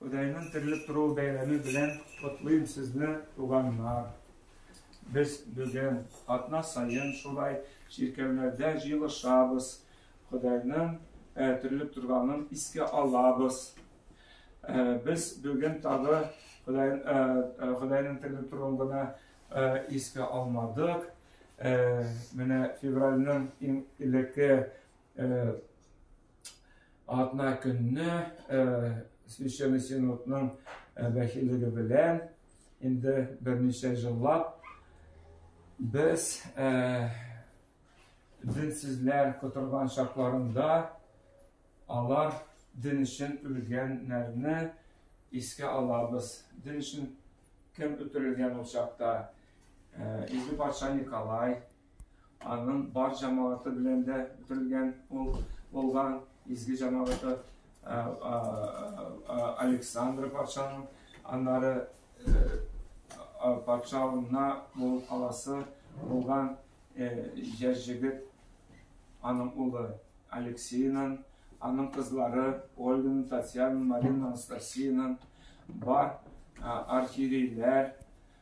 Ходайның терелеп торуы бәйрәме белән котлыйм сезне, туганнар! Без бүген атна саен шулай чиркәүләрдә җыелышабыз, Ходайның терелеп торганын искә алабыз. Без бүген тагы Ходайның терелеп торуын гына искә алмадык. Менә февральның иң элекке Атна көнне Священный Синодның вәкиллеге белән инде берничә җыллап без динсезләр котырган чакларында алар дин өчен үлгәннәрне искә алабыз. Дин өчен кем үтерелгән ул чакта? Изге патша Николай, Аның бар җәмәгате белән дә бетерелгән ул булган изге җәмәгате Александр патшаның, аннары патшалына бул каласы булган яшь җегет аның улы Алексеенын, аның кызлары Ольганы, Татьяна, Марина, Анастасиянын бар архиерейләр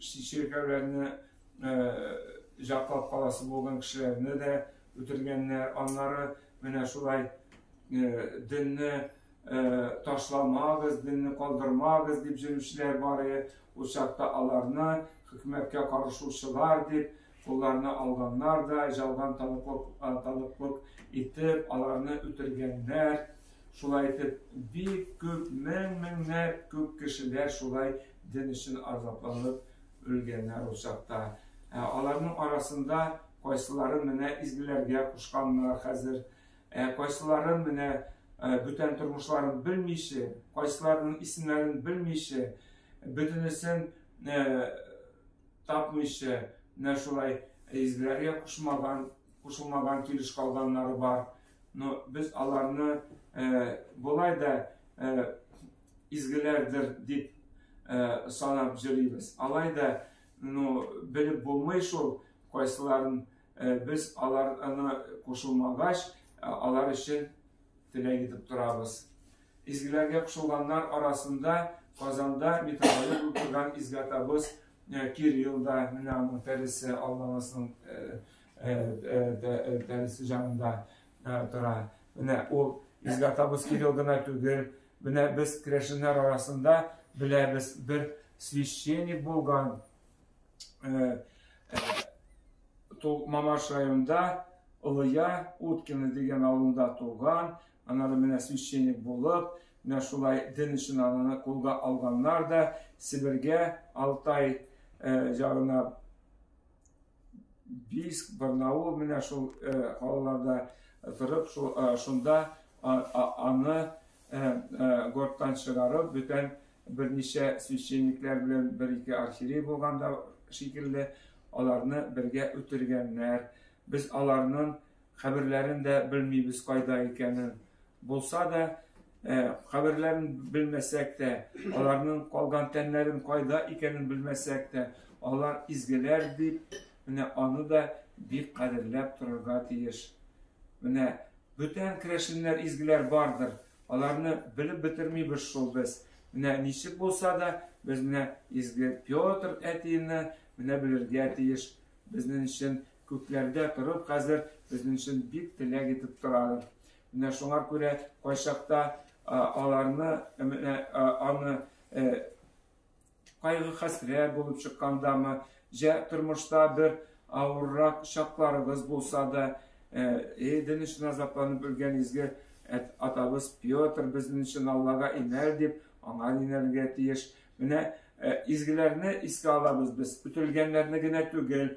чиркәүләрне җаклап каласы булган кешеләрне дә үтергәннәр. Аннары менә шулай динне ташламагыз, динне калдырмагыз дип җөрүчеләр бар иде. Ул чакта аларны хөкүмәткә карышучылар дип Кулларына алганнар да, жалган таныклык итеп, аларны үтергәннәр. Шулай итеп, бик күп, мең-меңләп күп кешеләр шулай дин өчен азапланып үлгәннәр ул чакта. Ә аларның арасында кайсылары менә изгеләргә кушканнар хәзер, ә кайсылары менә бүтән тормышларын белмичә, кайсыларының исемнәрен белмичә, бөтенесен тапмыйча, менә шулай изгеләргә кушмаган, кушылмаган килеш калганнары бар. Но без аларны болай да изгеләрдер дип санап җөрибез. Алай да, ну, белеп булмый шул, кайсыларын без аларны кушылмагач, алар өчен теләк итеп торабыз. Изгеләргә кушылганнар арасында Казанда металлолог булып торган изгәтабыз Кирилл да, менә аның тәресе Аллабасының тәресе җанында тора. Менә ул изгәтабыз Кирилл гына түгел, менә без керәшеннәр арасында беләбез, бер священник булган Мамаш районында Лыя Уткина дигән авылында туган, Аннары менә священник булып, менә шулай дин өчен аны кулга алганнар да Себергә Алтай ягына Бийск, Барнаул менә шул калаларда торып, шунда аны горттан чыгарып, бүтән берничә священниклар белән бер-ике архиерей булганда шикелле, аларны бергә үтергәннәр. Без аларның Каберләрен дә белмибез кайда икәнен. Булса да, каберләрен белмәсәк тә, аларның калган тәннәрен кайда икәнен белмәсәк тә, алар изгеләр дип, менә аны да бик кадерләп торырга тиеш. Менә бүтән керәшеннәр изгеләр бардыр. Аларны белеп бетермибез шул без. Менә ничек булса да, без менә изге Петр әтине менә белергә тиеш. Безнең өчен Күкләрдә торып хәзер безнең өчен бик теләк итеп торалар. Менә шуңар күрә кайчакта аларны менә аны кайгы хәсрә булып чыккандамы, җә тормышта бер авыррак чакларыбыз булса да, иден өчен азапланып үлгән изге атабыз Петр безнең өчен Аллага инәр дип, аңа инәргә тиеш. Менә изгеләрне искә алабыз без, үтелгәннәрне генә түгел,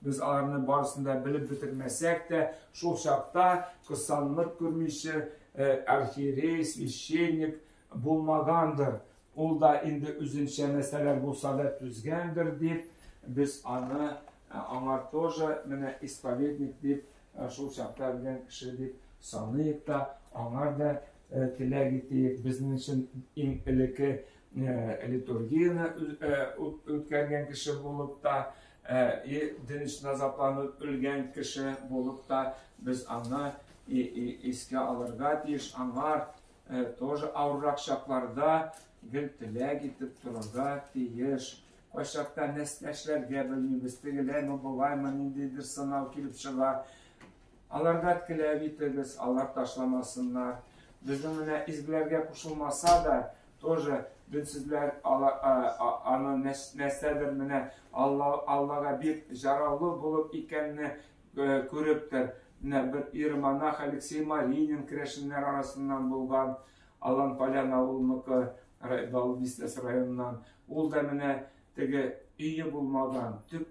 Без аларны барысын да белеп бетермәсәк тә, шул чакта кыссанлык күрмичә архиерей, священник булмагандыр, ул да инде үзенчә нәрсәләр булса да түзгәндер дип, без аны аңа тоже менә исповедник дип, шул чакта белгән кеше дип саныйк та, аңа да теләк итик. Безнең өчен иң элекке литургияне үткәргән кеше булып та, Ә и динч назапланып өлгән кеше булып та без аны и и искә алырга тиеш, аңар тоже авыррак чакларда гел теләк итеп торырга тиеш. Кайчакта нәстәшләргә белмибез, тегеләйме, болаймы, ниндидер сынау килеп чыга. Аларга теләк итегез, алар ташламасыннар. Безнең менә изгеләргә кушылмаса да, тоже дөнсезләр аны нәрсәдер менә Аллага бик җараулы булып икәнне күрептер. Менә бер иеромонах Алексей Маринин керәшеннәр арасыннан булган, Алан Полян авылыныкы, Бал Бистәсе районыннан. Ул да менә теге өе булмаган, төп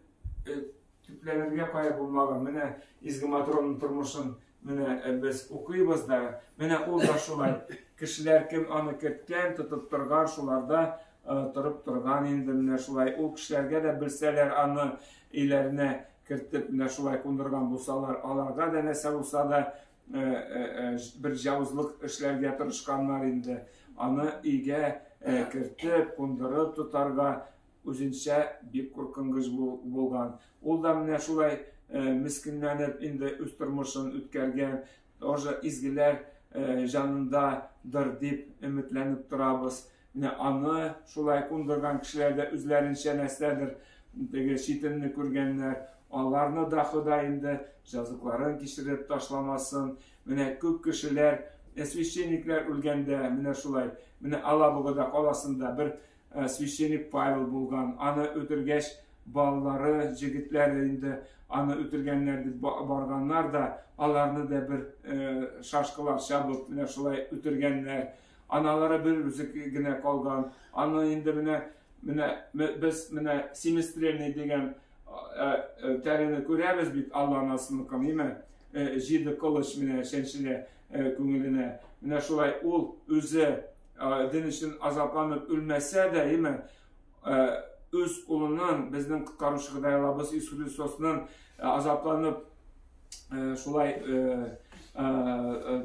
Төпләнергә кая булмаган, менә Изге Матронның тормышын менә э, без укыйбыз да, менә ул да шулай. Кешеләр кем аны керткән, тотып торган, шуларда э, торып торган инде менә шулай. Ул кешеләргә дә белсәләр аны өйләренә кертеп менә шулай кундырган булсалар, аларга да нәрсә булса да э, бер җавызлык эшләргә тырышканнар инде. Аны өйгә кертеп, кундырып тотарга Үзенчә бик куркынгыч булган. Ул да менә шулай мескенләнеп инде үз тормышын үткәргән. Тоже изгеләр җанындадыр дип өметләнеп торабыз. Менә аны шулай кундырган кешеләр дә үзләренчә нәрсәдер теге читенне күргәннәр. Аларны да Ходай инде җазыкларын кичереп ташламасын. Менә күп кешеләр священниклар үлгәндә менә шулай, менә Алабугада каласында бер Э, священник Павел булган, аны үтергәч, балалары, җегетләре инде аны үтергәннәр дип барганнар да, аларны да бер э, шашкалар чабып, менә шулай үтергәннәр. Аналары бер үзе генә калган. Аны инде менә менә без менә семестрельный дигән э, э, тәрәне күрәбез бит Алла анасының кымыймы? Җиде кылыч менә чәнчелә күңеленә. Менә шулай ул үзе дин өчен азапланып үлмәсә дә, яме үз улының безнең коткаручы Худайлабыз Иисус Христосның азапланып шулай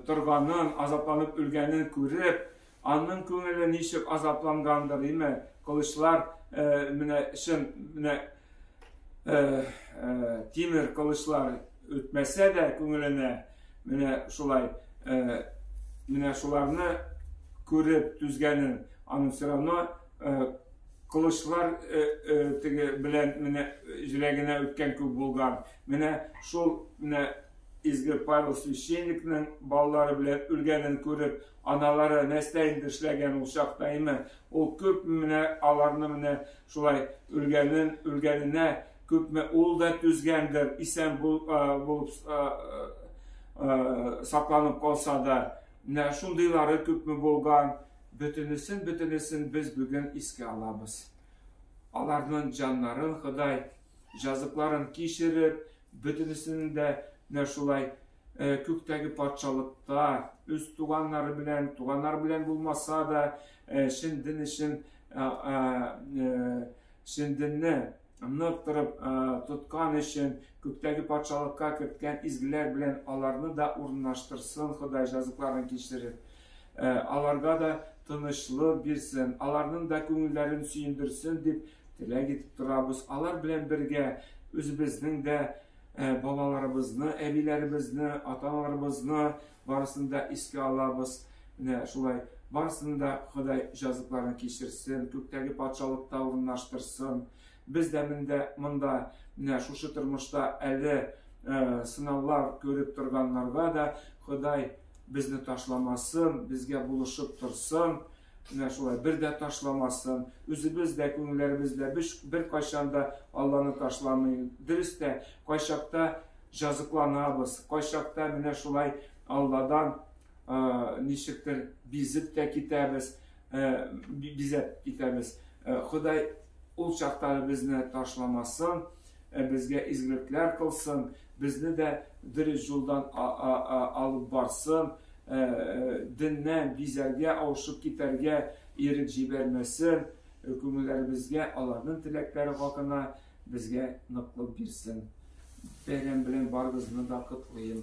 торганын, азапланып үлгәнен күреп, аның күңеле ничек азаплангандыр, яме кылычлар менә чын менә тимер кылычлар үтмәсә дә күңеленә Менә шулай, э, менә шуларны күреп түзгәнен, аның все равно э, кылычлар э, э, теге белән менә э, җиләгенә үткән күк булган. Менә шул менә изге Павел священникның балалары белән үлгәнен күреп, аналары нәрсә инде эшләгән ул чакта име? Ул күп менә аларны менә шулай үлгәнен, үлгәненә күпме ул да түзгәндер, исән булып сакланып калса да, менә шундыйлары күпме булган, бөтенесен бөтенесен без бүген искә алабыз. Аларның җаннарын Ходай җазыкларын кичереп, бөтенесен дә менә шулай э, күктәге патшалыкта үз туганнары белән, туганнар белән булмаса да, э, чын дин өчен, э, чын динне ныктырып тоткан өчен күктәге патшалыкка керткән изгеләр белән аларны да урынлаштырсын Ходай җазыкларын кичереп. Аларга да тынычлык бирсен, аларның да күңелләрен сөендерсен дип теләк итеп торабыз. Алар белән бергә үзебезнең дә балаларыбызны, әбиләребезне, аталарыбызны, Барысын да искә алабыз. Менә шулай. Барысын да Ходай җазыкларын кичерсен, күктәге патшалыкта урынлаштырсын. Без дә мендә, монда, менә шушы тормышта әле сынаулар күреп торганнарга да Ходай безне ташламасын, безгә булышып торсын. Менә шулай, бер дә ташламасын, үзебез дә, күңелләребез дә беркайчан да Алланы ташламый. Дөрес тә, кайчакта җазыкланабыз, кайчакта менә шулай Алладан ничектер бизеп тә китәбез, бизәп китәбез. Ходай ул чактары безне ташламасын. Ә безгә изгелекләр кылсын, безне дә дөрес җулдан алып барсын, деннән бизәргә, авышып китәргә ирек җибәрмәсен, күңелләребезгә аларның теләкләре хакына безгә ныклык бирсен. Бәйрәм белән барыгызны да котлыйм.